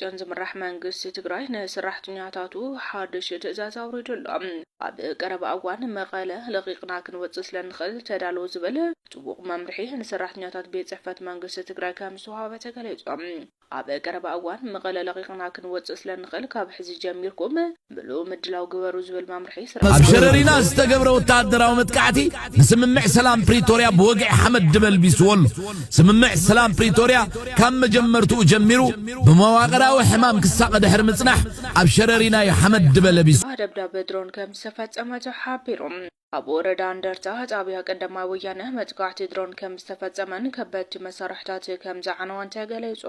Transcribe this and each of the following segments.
ብደብረፅዮን ዝምራሕ መንግስቲ ትግራይ ንስራሕተኛታቱ ሓዱሽ ትእዛዝ ኣውሪዱ ኣሎ። ኣብ ቀረባ እዋን መቐለ ለቒቕና ክንወፅእ ስለንኽእል ተዳለዉ ዝብል ጥቡቕ መምርሒ ንሰራሕተኛታት ቤት ፅሕፈት መንግስቲ ትግራይ ከምዝተውሃበ ተገሊፁ። ኣብ ቀረባ እዋን መቐለ ለቒቕና ክንወፅእ ስለንኽእል ካብ ሕዚ ጀሚርኩም ምሉእ ምድላው ግበሩ ዝብል መምርሒ ስርዓት ኣብ ሸረሪና ዝተገብረ ወተሃደራዊ መጥቃዕቲ ንስምምዕ ሰላም ፕሪቶርያ ብወግዒ ሓመድ ድበልቢስዎ ኣሎ። ስምምዕ ሰላም ፕሪቶርያ ካብ መጀመርትኡ ጀሚሩ ብመዋቕራዊ ሕማም ክሳቐ ድሕሪ ምጽናሕ ኣብ ሸረሪና እዩ ሓመድ ድበለቢሱ። ደብዳብ ድሮን ከም ዝተፈጸመ ተሓቢሩ። ኣብ ወረዳ እንደርታ ጣብያ ቀዳማይ ወያነ መጥቃዕቲ ድሮን ከምዝተፈፀመን ከበድቲ መሳርሕታት ከምዝዓነወን ተገሊፁ።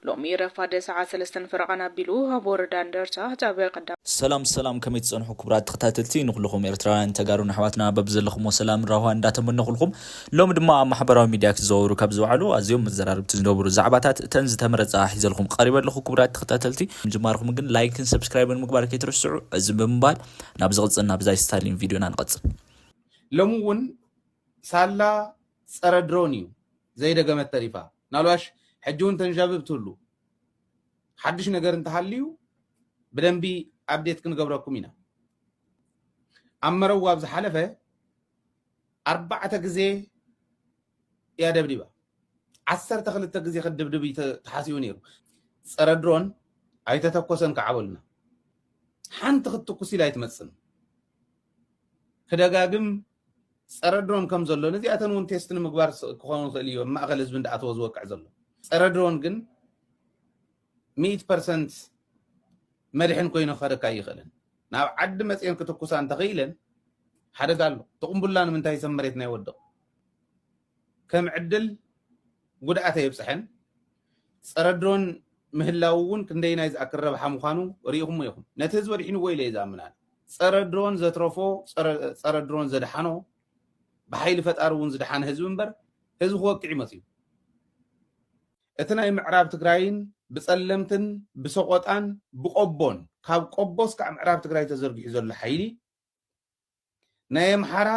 ሎሚ ረፋድ ሰዓት ሰለስተን ፈረቓን ኣቢሉ ኣብ ወረዳ እንደርታ ጣብያ ቀዳማይ። ሰላም ሰላም ከመይ ትጸንሑ ክቡራት ተኸታተልቲ ንኹሉኹም ኤርትራውያን ተጋሩን ኣሕዋትና በብዘለኹሞ ሰላምን ራህዋን እንዳተመነኹልኩም ሎሚ ድማ ኣብ ማሕበራዊ ሚድያ ክዘዋወሩ ካብ ዝውዓሉ ኣዝዮም መዘራርብቲ ዝነበሩ ዛዕባታት እተን ዝተመረጻ ሒዘልኹም ቐሪበ ኣለኹ ክቡራት ተኸታተልቲ ምጅማርኹም ግን ላይክን ሰብስክራይብን ምግባር ከይትርስዑ ዕዝም ብምባል ናብ ዝቅጽል ናብ ዛይ ስታሊን ቪድዮና ንቀጽል። ሎሚ ውን ሳላ ጸረ ድሮን እዩ ዘይደገመት ተሪፋ ናልባሽ ሕጂ ውን ተንዣብብ ትህሉ ሓዱሽ ነገር እንተሃልዩ ብደንቢ ኣብዴት ክንገብረኩም ኢና ኣብ መረዋ ኣብ ዝሓለፈ ኣርባዕተ ግዜ እያ ደብዲባ። ዓሰርተ ክልተ ግዜ ክድብድብ እዩ ተሓሲቡ ነይሩ። ፀረ ድሮን ኣይተተኮሰን ከዓ በሉና። ሓንቲ ክትትኩስ ኢላ ኣይትመፅን። ክደጋግም ፀረ ድሮን ከም ዘሎ ነዚኣተን እውን ቴስት ንምግባር ክኸውን ይኽእል እዩ ኣብ ማእኸል ህዝቢ እንዳኣተወ ዝወቅዕ ዘሎ ፀረ ድሮን ግን ሚእቲ ፐርሰንት መድሕን ኮይኑ ክኸደካ ኣይኽእልን። ናብ ዓዲ መጺኤን ክትኩሳ እንተኽኢለን ሓደጋ ኣሎ። እቲ ቁምቡላ ንምንታይ ሰብ መሬትና ይወድቕ? ከም ዕድል ጉድኣት ኣየብጽሐን። ጸረ ድሮን ምህላው እውን ክንደይናይ ዝኣክል ረብሓ ምዃኑ ርኢኹሞ ኢኹም። ነቲ ህዝቢ ኣድሒንዎ ኢለ እየ ዝኣምን ኣነ። ጸረ ድሮን ዘትረፎ ጸረ ድሮን ዘድሓኖ ብሓይሊ ፈጣሪ እውን ዝደሓነ ህዝቢ እምበር ህዝቢ ክወቅዕ እዩ መጺኡ። እቲ ናይ ምዕራብ ትግራይን ብፀለምትን ብሰቖጣን ብቆቦን ካብ ቆቦ እስካዕ ምዕራብ ትግራይ ተዘርጊሑ ዘሎ ሓይሊ ናይ ኣምሓራ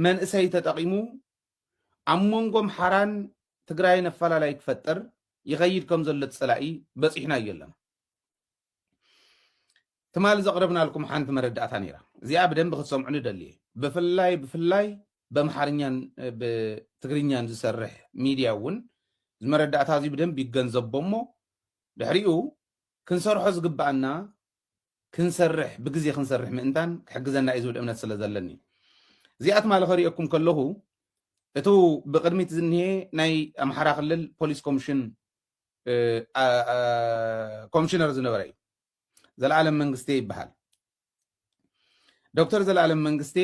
መንእሰይ ተጠቒሙ ኣብ መንጎ ኣምሓራን ትግራይን ኣፈላላይ ክፈጥር ይኸይድ ከም ዘሎ እቲ ፀላኢ በፂሑናዮ ኣለና። ትማሊ ዘቕረብናልኩም ሓንቲ መረዳእታ ነይራ። እዚኣ ብደንቢ ክትሰምዑኒ እደሊ እየ። ብፍላይ ብፍላይ በምሓርኛን ብትግርኛን ዝሰርሕ ሚድያ እውን እዚ መረዳእታ እዚ ብደንቢ ይገንዘቦ እሞ ድሕሪኡ ክንሰርሖ ዝግብኣና ክንሰርሕ ብግዜ ክንሰርሕ ምእንታን ክሕግዘና እዩ ዝብል እምነት ስለ ዘለኒ እዩ። እዚኣ ትማሊ ከርእየኩም ከለኹ እቱ ብቅድሚት ዝኒሄ ናይ ኣምሓራ ክልል ፖሊስ ኮሚሽን ኮሚሽነር ዝነበረ እዩ ዘልኣለም መንግስቴ ይበሃል። ዶክተር ዘልኣለም መንግስቴ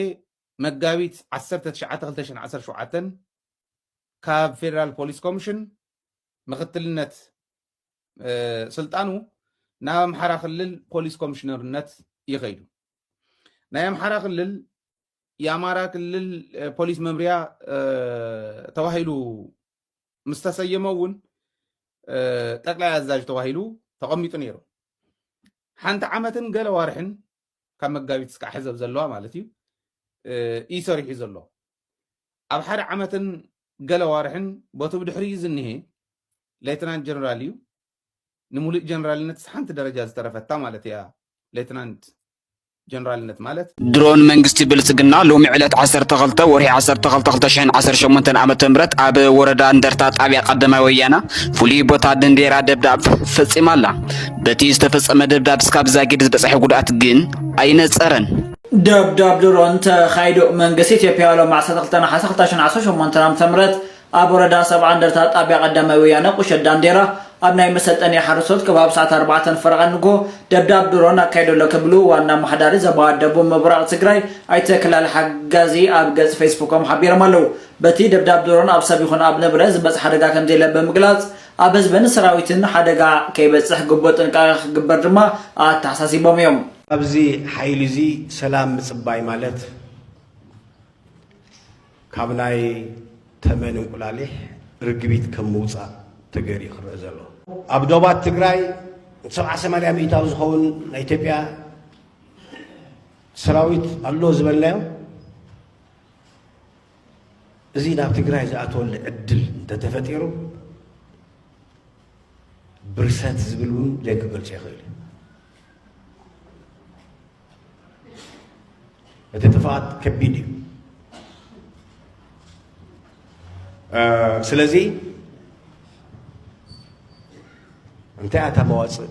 መጋቢት 19/2017 ካብ ፌደራል ፖሊስ ኮሚሽን ምክትልነት ስልጣኑ ናብ ኣምሓራ ክልል ፖሊስ ኮሚሽነርነት ይኸይዱ። ናይ ኣምሓራ ክልል የኣማራ ክልል ፖሊስ መምርያ ተባሂሉ ምስ ተሰየመ እውን ጠቅላይ ኣዛዥ ተባሂሉ ተቐሚጡ ነይሩ ሓንቲ ዓመትን ገለ ዋርሕን ካብ መጋቢት እስካዕ ሕዘብ ዘለዋ ማለት እዩ እዩ ሰሪሑ ዘሎ ኣብ ሓደ ዓመትን ገለ ዋርሕን ቦቲ ብድሕሪ እዩ ዝኒሄ ሌትናንት ጀነራል እዩ ንሙሉእ ጀነራልነት ሓንቲ ደረጃ ዝተረፈታ ማለት እያ ሌትናንት ጀነራልነት ማለት ድሮን መንግስቲ ብልጽግና ሎሚ ዕለት ዓሰርተ ክልተ ወርሒ ዓሰርተ ክልተ ክልተ ሽሕን ዓሰርተ ሸሞንተን ዓመተ ምህረት ኣብ ወረዳ እንደርታ ጣብያ ቀዳማይ ወያና ፍሉይ ቦታ ድንዴራ ደብዳብ ፈጺማ ኣላ። በቲ ዝተፈጸመ ደብዳብ እስካብ ዛጊድ ዝበጽሐ ጉድኣት ግን ኣይነጸረን። ደብዳብ ድሮን ተኻይዱ መንግስቲ ኢትዮጵያ ሎሚ ዓሰርተ ክልተ ነሓሰ ክልተ ሽሕን ዓሰርተ ሸሞንተን ዓመተ ምህረት ኣብ ወረዳ ሰብዓ እንደርታ ጣብያ ቀዳማይ ወያነ ቁሸት ዳንዴራ ኣብ ናይ መሰልጠኒ ሓረስቶት ከባቢ ሰዓት ኣርባዕተ ፈረቓ ንግሆ ደብዳብ ድሮን ኣካይዱ ኣሎ ክብሉ ዋና ኣማሓዳሪ ዘባ ደቡብ ምብራቕ ትግራይ ኣይተ ክላሊ ሓጋዚ ኣብ ገፅ ፌስቡኮም ሓቢሮም ኣለው። በቲ ደብዳብ ድሮን ኣብ ሰብ ይኹን ኣብ ንብረት ዝበፅሕ ሓደጋ ከምዘየለ ብምግላፅ ኣብ ህዝብን ሰራዊትን ሓደጋ ከይበፅሕ ግቡእ ጥንቃቐ ክግበር ድማ ኣተሓሳሲቦም እዮም። ካብዚ ሓይሊ እዚ ሰላም ምፅባይ ማለት፣ ካብ ናይ ተመን እንቁላሊሕ ርግቢት ከም ምውፃእ ተገይሩ እዩ ክረእ ዘሎ። ኣብ ዶባት ትግራይ ሰብዓ ሰማንያ ሚእታዊ ዝኸውን ናይ ኢትዮጵያ ሰራዊት ኣሎ ዝበልናዮ እዚ ናብ ትግራይ ዝኣተወሉ ዕድል እንተተፈጢሩ ብርሰት ዝብል እውን ዘይክገልፆ ይኽእል እዩ። እቲ ጥፍኣት ከቢድ እዩ ስለዚ እንታይ ኣታ መዋፅእ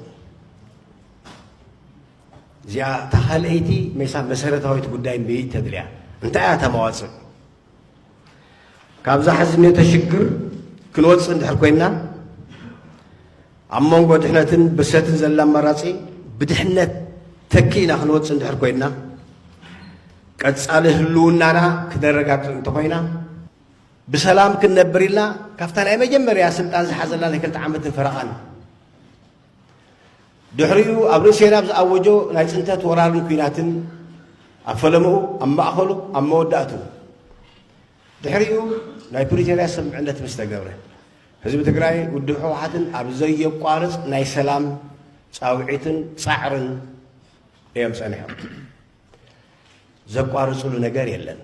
እዚኣ እታ ካልኣይቲ ሜሳ መሰረታዊት ጉዳይ ምይት ተድልያ እንታይ እያ እታ መዋፅእ ካብዛ ሕዚ ነተ ሽግር ክንወፅእ እንድሕር ኮይንና ኣብ መንጎ ድሕነትን ብርሰትን ዘላ ኣማራጺ ብድሕነት ተኪእና ክንወጽእ እንድሕር ኮይንና ቀጻሊ ህልውናና ክነረጋግጽ እንተኾይና ብሰላም ክንነብር ኢልና ካብታ ናይ መጀመርያ ስልጣን ዝሓዘላ ናይ ክልተ ዓመትን ፈረቓን ድሕሪኡ ኣብ ርእሴና ኣብ ዝኣወጆ ናይ ፅንተት ወራርን ኩናትን ኣብ ፈለምኡ ኣብ ማእኸሉ ኣብ መወዳእቱ ድሕሪኡ ናይ ፕሪቶርያ ስምምዕነት ምስ ተገብረ፣ ህዝቢ ትግራይ ውድብ ህወሓትን ኣብ ዘየቋርፅ ናይ ሰላም ፃውዒትን ፃዕርን እዮም ፀኒሖም። ዘቋርፅሉ ነገር የለን።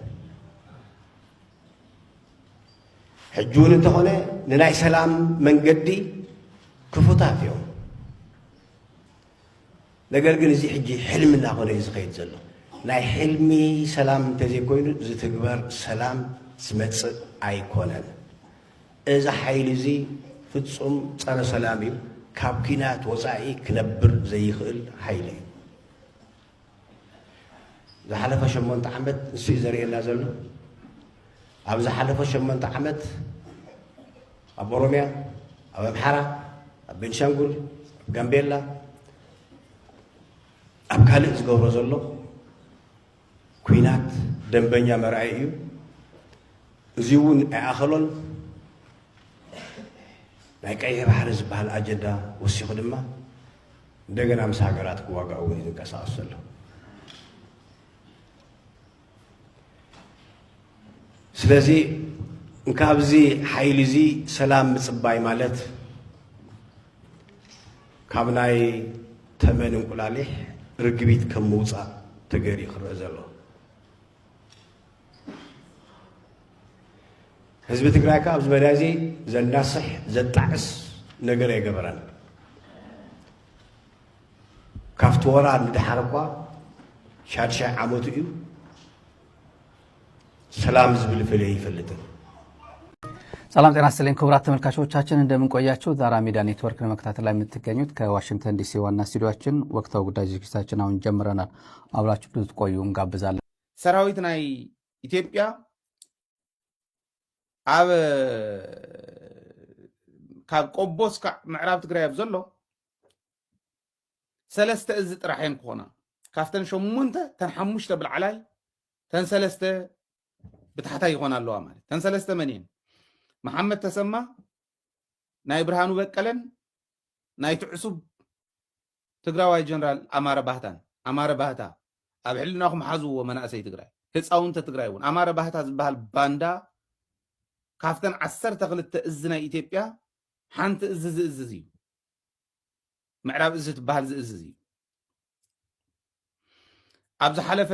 ሕጂ እውን እንተኾነ ንናይ ሰላም መንገዲ ክፉታት እዮም። ነገር ግን እዚ ሕጂ ሕልሚ እናኾነ እዩ ዝኸይድ ዘሎ። ናይ ሕልሚ ሰላም እንተዘይኮይኑ ዝትግበር ሰላም ዝመጽእ ኣይኮነን። እዚ ሓይሊ እዚ ፍጹም ጸረ ሰላም እዩ። ካብ ኲናት ወጻኢ ክነብር ዘይኽእል ሓይሊ እዩ። ዝሓለፈ ሸሞንተ ዓመት ንሱ እዩ ዘርእየና ዘሎ። ኣብ ዝሓለፈ ሸሞንተ ዓመት ኣብ ኦሮምያ፣ ኣብ ኣምሓራ፣ ኣብ ቤንሻንጉል፣ ኣብ ጋምቤላ፣ ኣብ ካልእ ዝገብሮ ዘሎ ኩናት ደንበኛ መርኣይ እዩ። እዚ እውን ኣይኣኸሎን ናይ ቀይሕ ባሕሪ ዝበሃል ኣጀንዳ ወሲኹ ድማ እንደገና ምስ ሃገራት ክዋጋእ እውን እዩ ዝንቀሳቐስ ዘሎ ስለዚ ካብዚ ሓይሊ እዚ ሰላም ምፅባይ ማለት ካብ ናይ ተመን እንቁላሊሕ ርግቢት ከም ምውፃእ ተገይሩ ክረአ ዘሎ ህዝቢ ትግራይ ከዓ ኣብዚ መዳይ እዚ ዘናስሕ ዘጣዕስ ነገር ኣይገበረን ካብቲ ወራር ንድሓር እኳ ሻድሻይ ዓመቱ እዩ ሰላም ዝብል ፍለይ ይፈልጥን ሰላም ጤና ይስጥልኝ ክቡራት ተመልካቾቻችን እንደምን ቆያችሁ። ዛራ ሚዲያ ኔትወርክ ለመከታተል ላይ የምትገኙት ከዋሽንግተን ዲሲ ዋና ስቱዲዮችን ወቅታዊ ጉዳይ ዝግጅታችን አሁን ጀምረናል። አብራችሁ ብዙ ቆዩ እንጋብዛለን። ሰራዊት ናይ ኢትዮጵያ ኣብ ካብ ቆቦ እስካዕ ምዕራብ ትግራይ ኣብ ዘሎ ሰለስተ እዚ ጥራሕ እየን ክኾና ካብተን ሸሞንተ ተን ሓሙሽተ ብላዕላይ ተን ሰለስተ ብታሕታይ ይኾና ኣለዋ ማለት ተን ሰለስተ መን እየን መሓመድ ተሰማ ናይ ብርሃኑ በቀለን ናይ ትዕሱብ ትግራዋይ ጀነራል ኣማረ ባህታን ኣማረ ባህታ ኣብ ሕልናኹም ሓዝዎ መናእሰይ ትግራይ ህፃውንተ ትግራይ እውን ኣማረ ባህታ ዝበሃል ባንዳ ካብተን ዓሰርተ ክልተ እዚ ናይ ኢትዮጵያ ሓንቲ እዚ ዝእዝዝ እዩ ምዕራብ እዚ ትበሃል ዝእዝዝ እዩ ኣብ ዝሓለፈ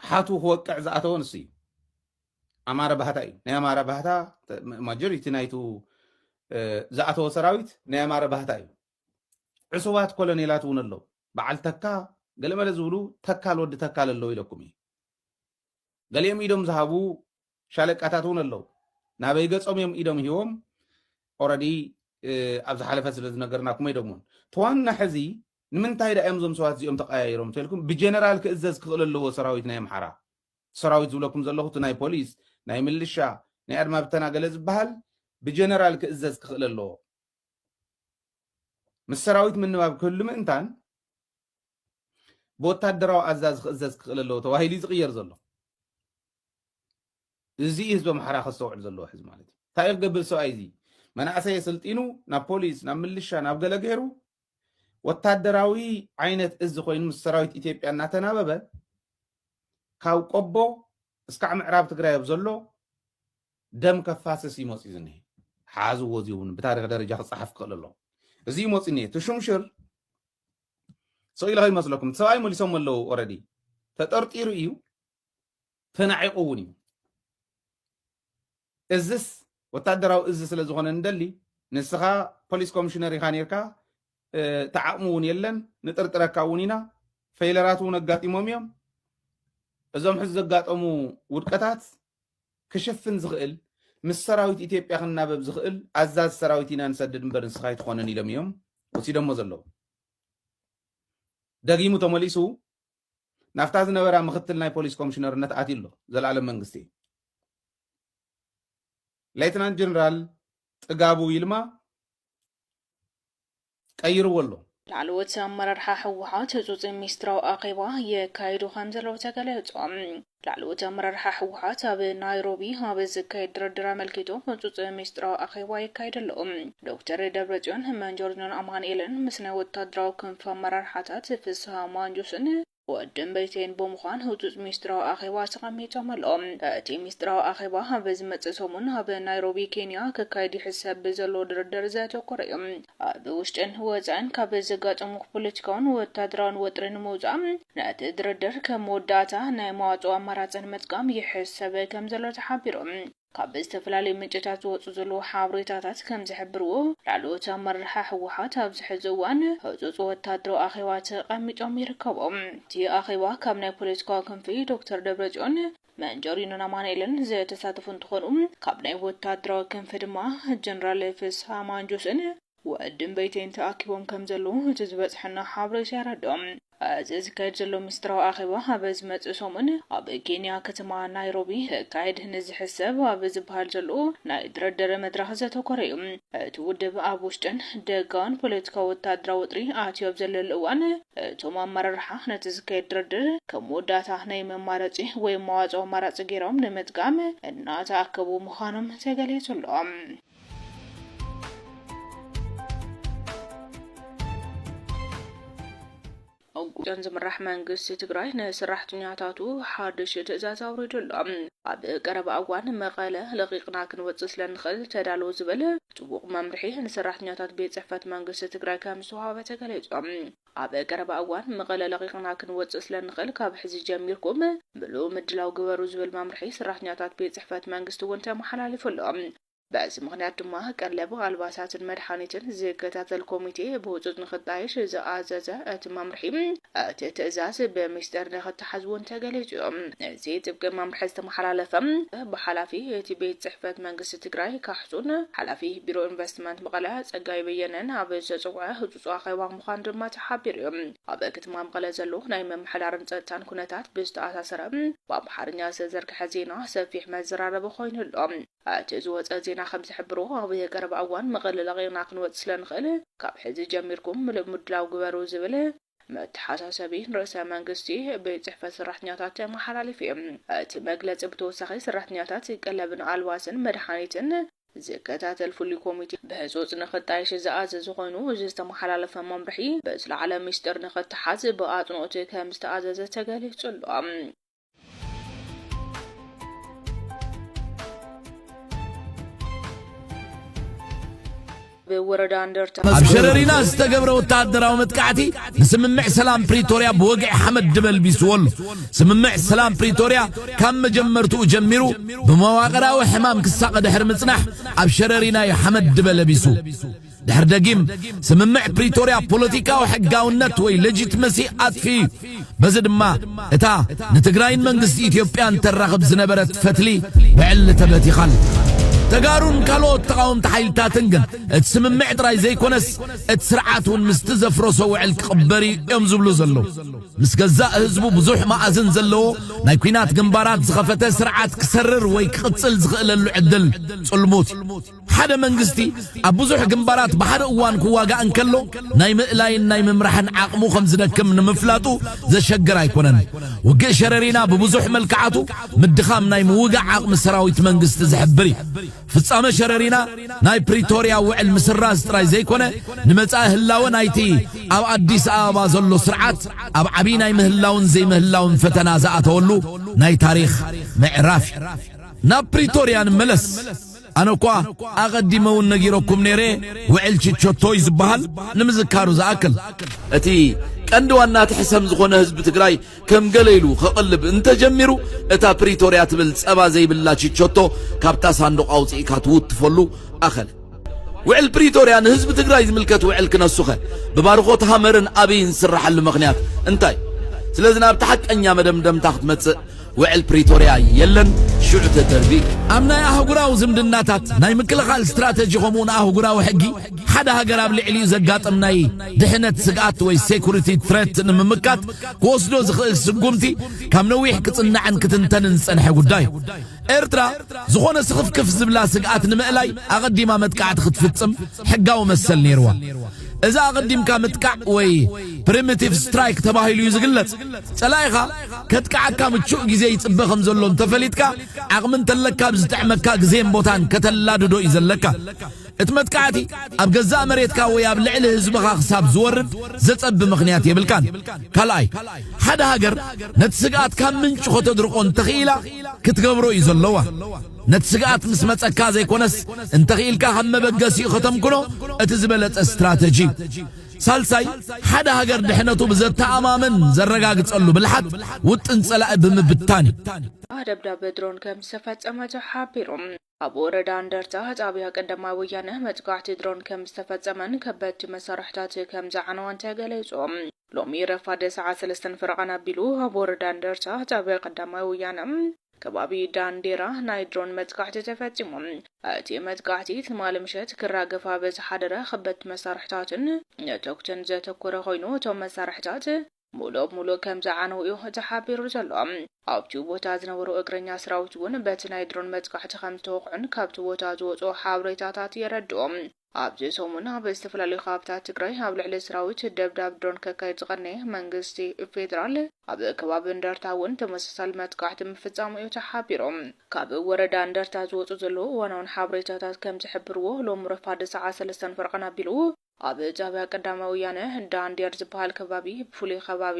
ሓቱ ክወቅዕ ዝኣተወ ንሱ እዩ ኣማረ ባህታ እዩ ናይ ኣማረ ባህታ ማጆሪቲ ናይቱ ዝኣተወ ሰራዊት ናይ ኣማረ ባህታ እዩ ዕሱባት ኮሎኔላት እውን ኣለዉ በዓል ተካ ገለመለ ዝብሉ ተካል ወዲ ተካል ኣለዉ ኢለኩም እዩ ገሊኦም ኢዶም ዝሃቡ ሻለቃታት ውን ኣለው ናበይ ገጾም እዮም ኢዶም ሂቦም ኦረዲ ኣብ ዝሓለፈ ስለ ዝነገርናኩም ኣይደግሞን ተዋና ሕዚ ንምንታይ ዳ እዮም እዞም ሰባት እዚኦም ተቀያይሮም ተልኩም ብጀነራል ክእዘዝ ክኽእል ኣለዎ ሰራዊት ናይ ኣምሓራ ሰራዊት ዝብለኩም ዘለኹ እቲ ናይ ፖሊስ ናይ ምልሻ ናይ ኣድማ ብተና ገለ ዝበሃል ብጀነራል ክእዘዝ ክኽእል ኣለዎ ምስ ሰራዊት ምንባብ ክህሉ ምእንታን ብወታደራዊ ኣዛዝ ክእዘዝ ክኽእል ኣለዎ ተባሂሉ ዝቕየር ዘሎ እዚ እዩ ህዝቢ ኣምሓራ ከስተውዕል ዘለዎ ሕዚ ማለት እዩ እንታይ እዩ ክገብር ሰብኣይ እዚ መናእሰይ የሰልጢኑ ናብ ፖሊስ ናብ ምልሻ ናብ ገለ ገይሩ ወታደራዊ ዓይነት እዚ ኮይኑ ምስ ሰራዊት ኢትዮጵያ እናተናበበ ካብ ቆቦ እስካዕ ምዕራብ ትግራይ ኣብ ዘሎ ደም ከፋስስ እዩ መፅኡ ዝኒሀ ሓዝዎ እዚ እውን ብታሪክ ደረጃ ክፀሓፍ ክኽእል ኣሎ እዚ እዩ መፅኡ እኒሀ ትሹምሽር ሰው ኢለ ይመስለኩም እቲ ሰብኣይ መሊሶም ኣለዉ ኦረዲ ተጠርጢሩ እዩ ተናዒቑ እውን እዩ። እዝስ ወታደራዊ እዝ ስለ ዝኾነ ንደሊ ንስኻ ፖሊስ ኮሚሽነር ኢኻ ነርካ እቲ ዓቕሚ እውን የለን ንጥርጥረካ እውን ኢና ፌይለራት እውን ኣጋጢሞም እዮም እዞም ሕዚ ዘጋጠሙ ውድቀታት ክሽፍን ዝኽእል ምስ ሰራዊት ኢትዮጵያ ክናበብ ዝኽእል ኣዛዝ ሰራዊት ኢና ንሰድድ እምበር ንስኻ ኣይትኾነን ኢሎም እዮም ወሲዶሞ ዘለዉ ደጊሙ ተመሊሱ ናብታ ዝነበራ ምክትል ናይ ፖሊስ ኮምሽነርነት ኣትዩ ኣሎ ዘልኣለም መንግስቲ። ሌትናንት ጀነራል ጥጋቡ ይልማ ቀይርዎ ኣሎ። ላዕለዎት ኣመራርሓ ህወሓት ህፁፅ ሚስጥራዊ ኣኼባ የካይዱ ከምዘለዉ ተገሊፁ። ላዕለዎት ኣመራርሓ ህወሓት ኣብ ናይሮቢ ኣብ ዝካየድ ድርድር ኣመልኪቱ ህፁፅ ሚስጥራዊ ኣኼባ የካይድ ኣሎ። ዶክተር ደብረፅዮን፣ መንጆርኞን ኣማንኤልን ምስ ናይ ወታደራዊ ክንፊ ኣመራርሓታት ፍስሃ ማንጁስን ወዲእምበይተይን ብምዃን ህፁፅ ሚስጥራዊ ኣኼባ ተቐሚጦም ኣለዉ። እቲ ሚስጥራዊ ኣኼባ ኣብ ዝመፅእ ሰሙን ኣብ ናይሮቢ ኬንያ ክካየድ ይሕሰብ ብዘሎ ድርድር ዘተኮረ እዩ። ኣብ ውሽጥን ወጻእን ካብ ዘጋጠሙ ፖለቲካውን ወታደራውን ወጥሪ ንምውጻእ ነቲ ድርድር ከም መወዳእታ ናይ መዋጽኦ ኣማራጺ ንምጥቃም ይሕሰብ ከምዘሎ ተሓቢሩ። ካብ ዝተፈላለዩ ምንጭታት ዝወጹ ዘለዉ ሓብሬታታት ከምዝሕብርዎ፣ ላዕለዎት ኣመራርሓ ህወሓት ኣብዚ ሕዚ እዋን ህጹጽ ወታደራዊ ኣኼባ ተቐሚጦም ይርከቡ። እቲ ኣኼባ ካብ ናይ ፖለቲካዊ ክንፊ ዶክተር ደብረጽዮን፣ መንጀሪኖን ኣማኒኤልን ዝተሳተፉ እንትኾኑ ካብ ናይ ወታደራዊ ክንፊ ድማ ጀነራል ፍስሃ ማንጁስን ወዲ እምበይተይን ተኣኪቦም ከምዘለዉ እቲ ዝበፅሐና ሓበሬታ የረድኦ። እዚ ዝካየድ ዘሎ ምስጢራዊ ኣኼባ ኣብ ዝመፅእ ሰሙን ኣብ ኬንያ ከተማ ናይሮቢ ክካየድ ንዝሕሰብ ኣብ ዝበሃል ዘሎ ናይ ድርድር መድረኽ ዘተኮረ እዩ። እቲ ውድብ ኣብ ውሽጥን ደጋውን ፖለቲካዊ ወተሃደራዊ ወጥሪ ኣትዩ ኣብ ዘለሉ እዋን፣ እቶም ኣመራርሓ ነቲ ዝካየድ ድርድር ከም መወዳእታ ናይ መማረጺ ወይ መዋጽኦ ኣማራጺ ገይሮም ንምጥቃም እናተኣከቡ ምዃኖም ተገሊጹ ኣሎ። ኡብደን ዝምራሕ መንግስቲ ትግራይ ንስራሕተኛታቱ ሓድሽ ትእዛዝ ኣውሪዱ ኣሎ። ኣብ ቀረባ እዋን መቐለ ለቒቕና ክንወፅእ ስለንኽእል ተዳለዉ ዝብል ጥቡቕ መምርሒ ንሰራሕተኛታት ቤት ፅሕፈት መንግስቲ ትግራይ ከምዝተውሃበ ተገሊፁ። ኣብ ቀረባ እዋን መቐለ ለቒቕና ክንወፅእ ስለንኽእል ካብ ሕዚ ጀሚርኩም ምሉእ ምድላው ግበሩ ዝብል መምርሒ ስራሕተኛታት ቤት ፅሕፈት መንግስቲ እውን ተመሓላሊፉ ኣሎ። በዚ ምኽንያት ድማ ቀለብ፣ ኣልባሳትን መድሓኒትን ዝከታተል ኮሚቴ ብህፁፅ ንክጣየሽ ዝኣዘዘ እቲ መምርሒ እቲ ትእዛዝ ብሚስጥር ንክተሓዝ እውን ተገሊፁ እዩ። እዚ ጥብቂ መምርሒ ዝተመሓላለፈ ብሓላፊ እቲ ቤት ፅሕፈት መንግስቲ ትግራይ ካሕሱን ሓላፊ ቢሮ ኢንቨስትመንት መቐለ ፀጋይ በየነን ኣብ ዝተፀውዐ ህፁፅ ኣኼባ ምዃኑ ድማ ተሓቢሩ እዩ። ኣብ ከተማ መቐለ ዘሎ ናይ ምምሕዳርን ፀጥታን ኩነታት ብዝተኣሳሰረ ብኣምሓርኛ ዝተዘርግሐ ዜና ሰፊሕ መዘራረቢ ኮይኑ ኣሎ። እቲ ዝወጸ ዜና ከም ዝሕብሮ፣ ኣብ ቀረባ እዋን መቐለ ለቒቕና ክንወጽእ ስለ ንኽእል፣ ካብ ሕዚ ጀሚርኩም ምሉእ ምድላው ግበሩ ዝብል መተሓሳሰቢ ንርእሰ መንግስቲ ቤት ጽሕፈት ሰራሕተኛታት ተመሓላሊፉ እዩ። እቲ መግለጺ ብተወሳኺ ሰራሕተኛታት ቀለብን ኣልባስን መድሓኒትን ዝከታተል ፍሉይ ኮሚቴ ብህጹጽ ንኽጣየሽ ዝኣዘዘ ኮይኑ፣ እዚ ዝተመሓላለፈ መምርሒ ብዝለዓለ ሚስጥር ንኽተሓዝ ብኣጽንኦት ከም ዝተኣዘዘ ተገሊጹ ኣሎ። ብወረዳ እንደርታ ኣብ ሸረሪና ዝተገብረ ወተሃደራዊ መጥቃዕቲ ንስምምዕ ሰላም ፕሪቶርያ ብወግዒ ሓመድ ድበልቢስዎ ኣሎ ስምምዕ ሰላም ፕሪቶርያ ካብ መጀመርትኡ ጀሚሩ ብመዋቕራዊ ሕማም ክሳቐ ድሕሪ ምጽናሕ ኣብ ሸረሪና እዩ ሓመድ ድበለቢሱ ድሕር ደጊም ስምምዕ ፕሪቶርያ ፖለቲካዊ ሕጋውነት ወይ ለጂትመሲ ኣጥፊኡ እዩ። በዚ ድማ እታ ንትግራይን መንግስቲ ኢትዮጵያን ተራኽብ ዝነበረት ፈትሊ ብዕሊ ተበቲኻ ኣላ። ተጋሩን ካልኦት ተቓወምቲ ሓይልታትን ግን እቲ ስምምዕ ጥራይ ዘይኮነስ እቲ ስርዓት እውን ምስቲ ዘፍረሶ ውዕል ክቕበር እዩ እዮም ዝብሉ ዘለዉ። ምስ ገዛእ ህዝቡ ብዙሕ መኣዝን ዘለዎ ናይ ኲናት ግንባራት ዝኸፈተ ስርዓት ክሰርር ወይ ክቕጽል ዝኽእለሉ ዕድል ጽልሙት እዩ። ሓደ መንግስቲ ኣብ ብዙሕ ግንባራት ብሓደ እዋን ክዋጋእ እንከሎ ናይ ምእላይን ናይ ምምራሕን ዓቕሙ ከም ዝደክም ንምፍላጡ ዘሸግር ኣይኮነን። ውግእ ሸረሪና ብብዙሕ መልክዓቱ ምድኻም ናይ ምውጋእ ዓቕሚ ሰራዊት መንግስቲ ዝሕብር እዩ። ፍጻመ ሸረሪና ናይ ፕሪቶርያ ውዕል ምስራዝ ጥራይ ዘይኮነ ንመጻኢ ህላወ ናይቲ ኣብ ኣዲስ ኣበባ ዘሎ ስርዓት ኣብ ዓብዪ ናይ ምህላውን ዘይምህላውን ፈተና ዝኣተወሉ ናይ ታሪኽ ምዕራፍ እዩ። ናብ ፕሪቶርያ ንመለስ። ኣነ እኳ ኣቐዲመ እውን ነጊረኩም ነይረ፣ ውዕል ችቸቶ እዩ ዝበሃል፣ ንምዝካሩ ዝኣክል። እቲ ቀንዲ ዋና እቲ ሕሰም ዝኾነ ህዝቢ ትግራይ ከም ገለ ኢሉ ከቕልብ እንተጀሚሩ እታ ፕሪቶርያ ትብል ጸባ ዘይብላ ችቸቶ ካብታ ሳንዱቕ ኣውጽኢካ ትውትፈሉ ኣኸለ። ውዕል ፕሪቶርያ ንህዝቢ ትግራይ ዝምልከት ውዕል ክነሱኸ ብባርኾት ሃመርን ኣብይን ዝስራሐሉ ምኽንያት እንታይ? ስለዚ ናብቲ ሓቀኛ መደምደምታ ክትመጽእ ውዕል ፕሪቶርያ የለን ሽዑ ተተርቢ እዩ። ኣብ ናይ ኣህጉራዊ ዝምድናታት፣ ናይ ምክልኻል ስትራተጂ ከምኡውን ኣህጉራዊ ሕጊ፣ ሓደ ሃገር ኣብ ልዕሊኡ ዘጋጥም ናይ ድሕነት ስግኣት ወይ ሴኩሪቲ ትረት ንምምካት ክወስዶ ዝኽእል ስጉምቲ ካብ ነዊሕ ክጽናዕን ክትንተንን ዝጸንሐ ጉዳይ እዩ። ኤርትራ ዝኾነ ስኽፍክፍ ዝብላ ስግኣት ንምእላይ ኣቐዲማ መጥቃዕቲ ክትፍጽም ሕጋዊ መሰል ነይርዋ። እዚ ኣቐዲምካ ምጥቃዕ ወይ ፕሪሚቲቭ ስትራይክ ተባሂሉ እዩ ዝግለጽ። ጸላኢኻ ከጥቅዓካ ምቹእ ግዜ ይጽበ ከም ዘሎ እንተፈሊጥካ፣ ዓቕሚ እንተለካ ኣብ ዝጥዕመካ ግዜን ቦታን ከተላድዶ እዩ ዘለካ። እቲ መጥቃዕቲ ኣብ ገዛእ መሬትካ ወይ ኣብ ልዕሊ ህዝብኻ ክሳብ ዝወርድ ዘጸቢ ምኽንያት የብልካን። ካልኣይ፣ ሓደ ሃገር ነቲ ስግኣት ካብ ምንጩ ከተድርቆ እንተኽኢላ ክትገብሮ እዩ ዘለዋ። ነቲ ስግኣት ምስ መጸካ ዘይኮነስ እንተኽኢልካ ከም መበገሲኡ ከተምክኖ እቲ ዝበለጸ ስትራተጂ እዩ። ሳልሳይ፣ ሓደ ሃገር ድሕነቱ ብዘተኣማምን ዘረጋግጸሉ ብልሓት ውጥን ጸላኢ ብምብታን እዩ። ደብዳብ ድሮን ከም ዝተፈጸመ ተሓቢሩ። ኣብ ወረዳ እንደርታ ጣብያ ቀዳማይ ወያነ መጥቃዕቲ ድሮን ከም ዝተፈጸመን ከበድቲ መሳርሕታት ከም ዝዓነዋን ተገሊጹ። ሎሚ ረፋድ ሰዓት ሰለስተን ፈረቓን ኣቢሉ ኣብ ወረዳ እንደርታ ጣብያ ቀዳማይ ወያነ ከባቢ ዳንዴራ ናይ ድሮን መጥቃዕቲ ተፈጺሙ። እቲ መጥቃዕቲ ትማሊ ምሸት ክራገፍ ኣብ ዝሓደረ ከበድቲ መሳርሕታትን ነተጉትን ዘተኮረ ኮይኑ፣ እቶም መሳርሕታት ሙሉእ ብሙሉእ ከምዝዓነዉ'ዩ ተሓቢሩ ዘሎ። ኣብ'ቲ ቦታ ዝነበሩ እግረኛ ሰራዊት'ውን በቲ ናይ ድሮን መጥቃዕቲ ከምዝተወቕዑን ካብ'ቲ ቦታ ዝወጽኡ ሓበሬታታት የረድኡ። ኣብዚ ሰሙን ኣብ ዝተፈላለዩ ከባብታት ትግራይ ኣብ ልዕሊ ስራዊት ደብዳብ ድሮን ከካይድ ዝቐነየ መንግስቲ ፌደራል ኣብ ከባቢ እንደርታ እውን ተመሳሳሊ መጥቃዕቲ ምፍፃሙ እዩ ተሓቢሩ። ካብ ወረዳ እንደርታ ዝወፁ ዘለዉ እዋናውን ሓበሬታታት ከምዝሕብርዎ ሎሚ ረፋድ ሰዓት ሰለስተን ፈረቓን ኣቢሉ ኣብ ጣብያ ቀዳማይ ወያነ ዳንዴር ዝበሃል ከባቢ ብፍሉይ ኸባቢ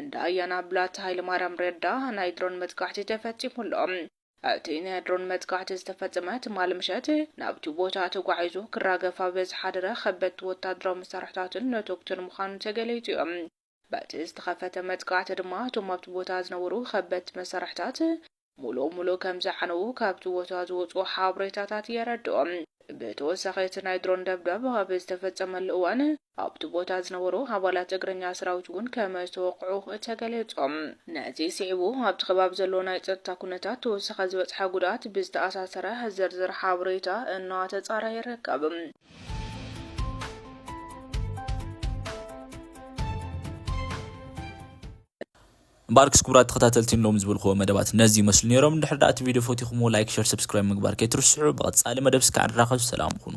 እንዳ ኣያና ብላታ ሃይለማርያም ረዳ ናይ ድሮን መጥቃዕቲ ተፈፂሙ ኣሎ። እቲ ናይ ድሮን መጥቃዕቲ ዝተፈጸመ ትማሊ ምሸት፣ ናብቲ ቦታ ተጓዒዙ ክራገፍ ኣብ ዝሓደረ ከበድቲ ወተሃደራዊ መሳርሕታትን ነቶጉትን ምዃኑ ተገሊጹ'ዩ። በቲ ዝተኸፈተ መጥቃዕቲ ድማ እቶም ኣብቲ ቦታ ዝነበሩ ከበድቲ መሳርሕታት ሙሉእ ሙሉእ ከምዝዓነዉ ካብቲ ቦታ ዝወጽኡ ሓበሬታታት የረድኡ። ብተወሳኺ እቲ ናይ ድሮን ደብዳብ ኣብ ዝተፈጸመሉ እዋን፣ ኣብቲ ቦታ ዝነበሩ ኣባላት እግረኛ ሰራዊት እውን ከመዝተወቕዑ ተገሊጹ። ነዚ ስዒቡ ኣብቲ ከባቢ ዘሎ ናይ ጸጥታ ኩነታት ተወሰኸ ዝበጽሐ ጉድኣት ብዝተኣሳሰረ ዝርዝር ሓበሬታ እናተጻረ ይርከብ። እምበኣርክስ ክቡራት ተኸታተልቲ ንሎሚ ዝበልክዎ መደባት ነዚ ይመስሉ ነይሮም። እንድሕር ደኣ እቲ ቪድዮ ፈቲኹምዎ ላይክ፣ ሸር፣ ሰብስክራይብ ምግባር ከይትርስዑ። ብቐጻሊ መደብ እስከ ንራኸብ ሰላም ኩኑ።